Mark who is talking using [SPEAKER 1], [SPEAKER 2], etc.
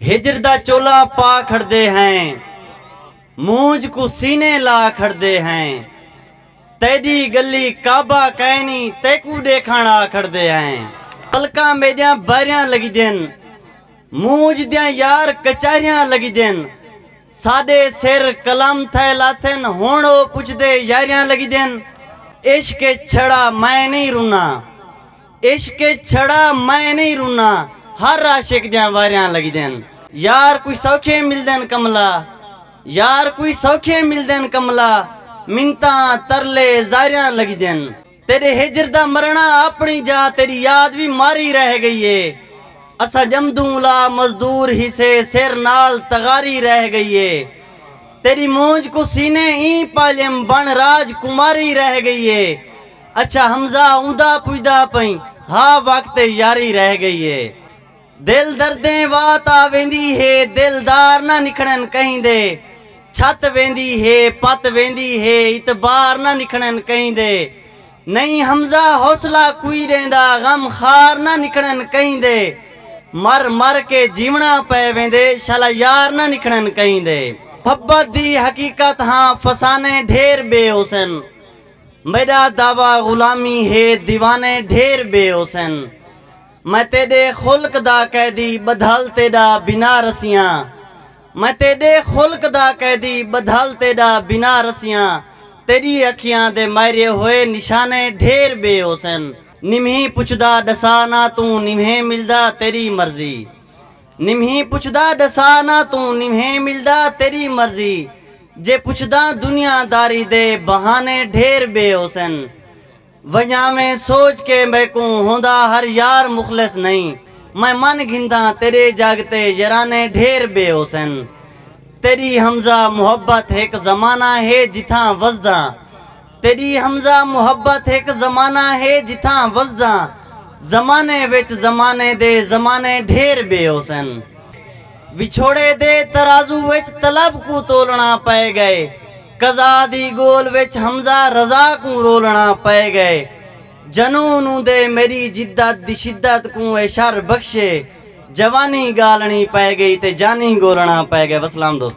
[SPEAKER 1] ہجر دا چولا پا کھڑدے ہیں مونجھ کوں سینے لا کھڑدے ہیں تیڈی گلی کعبہ کائنی تیکوں ڈیکھن آ کھڑدے ہیں پلکاں میڈیاں بائریاں لگدین مونجھ دیاں یار کچاریاں لگدین ساڈے سر قلم تھے لاتھن ہن او پچھدے یاریاں لگدین عشق اچ چھڑا میں نہیں رنا عشق اچ چھڑا میں نئیں رنا ہر عاشق دیاں واریاں لگدین۔ یار کوئی سوکھے ملدن کملا یار کوئی سوکھے ملدن کملا منتاں ترلے زاریاں لگدین۔ تیڈے ہجر دا مرنا اپنی جا تیڈی یاد وی ماری رہ گئی اے اساں جمدوں لا مزدور ہیسے سر نال تغاری رہ گئی اے تیڈی مونجھ کوں سینے ایں پالیم بن راج کماری رہ گئی اے اچھا حمزہ اوندا پجدا پئیں ہا وقت یاری رہ گئی اے دل دردیں وات آ ویندی ہے دلدار نہ نکھڑن کہیں دے چھت ویندی ہے پت ویندی ہے اتبار نہ نکھڑن کہیں دے نہیں حمزہ حوصلہ کوئی ڈیندا غم خار نہ نکھڑن کہیں دے مر مر کے جیونا پے ویندے شالا یار نہ نکھڑن کہیں دے محبت دی حقیقت ہاں فسانے ڈھیر بے حسن میݙا دعوی غلامی ہے دیوانے ڈھیر بے حسین میں تیݙے خلق دا قیدی ٻدھل تیݙا بنا رسیاں میں تیݙے خلق دا قیدی ٻدھل تیݙا بنا رسیاں تیݙی اکھیاں دے مائرے ہوئے نشانے ڈھیر بے حسین نمہیں پچھدا ݙسا نہ توں نمہیں ملدا تیݙی مرضی۔ نمہیں پچھدا ڈسا نہ توں نمہیں ملدا تیری مرضی جے پچھداں دنیا داری دے بہانے ڈھیر بے ہوسن ونجاویں سوچ کے میکوں ہوندا ہر یار مخلص نئیں میں من گھنداں تیرے جگ تے یرانے ڈھیر بے ہوسن تیری ہمزہ محبت ہک زمانہ ہے جتھاں وسداں تیݙی حمزہ محبت ہک زمانہ ہے جتھاں وسداں زمانے وچ زمانے دے زمانے ڈھیر ٻئے ہوسن وچھوڑے دے ترازو وچ طلب کوں تولݨا پئے ڳئے قضا دی ڳول وچ حمزہ رضا کوں رولݨا پئے ڳئے جنون اوندے میݙی جدت دی شدت کوں اے شر بخشے جوانی ڳالݨی پئے ڳئی تے جانی ڳولݨا پئے ڳئے وسلام دوستو۔